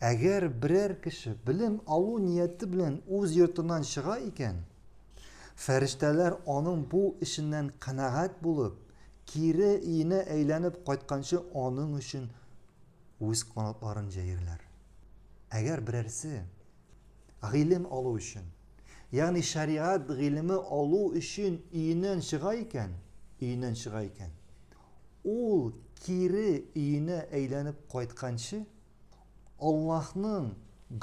Әгәр берәр кеше белем алу нияте белән үз йортыннан чыга икән, фәрештәләр аның бу эшеннән канәгать булып, кире өенә әйләнеп кайтканчы аның өчен үз канатларын җәерләр. Әгәр берәрсе гыйлем алу өчен, ягъни шәригать гыйлеме алу өчен өеннән чыга икән, өеннән чыга икән, Ул кире өенә әйләнеп кайтканчы, Аллаһның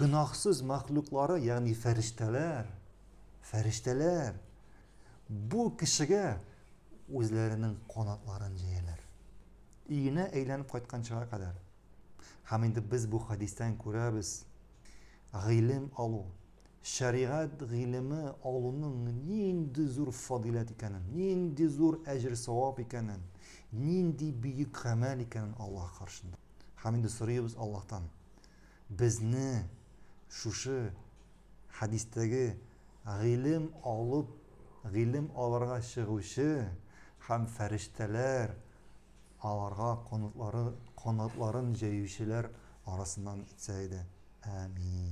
гөнаһсыз мәхлуклары, ягъни фәрештәләр, фәрештәләр, бу кешегә үзләренең канатларын җәяләр. Өенә әйләнеп кайтканчыга кадәр. Һәм инде без бу хәдистән күрәбез, гыйлем алу, Шәригать гыйлеме алуның нинди зур фадыйләт икәнен, нинди зур әҗер-савап икәнен, нинди бөек гамәл икәнен Аллаһ каршында. Һәм инде сорыйбыз Аллаһтан, безне шушы хәдистәге гыйлем алып, гыйлем алырга чыгучы һәм фәрештәләр Аларга канатлары канатларын җәючеләр арасыннан итсә иде. Әәмиин.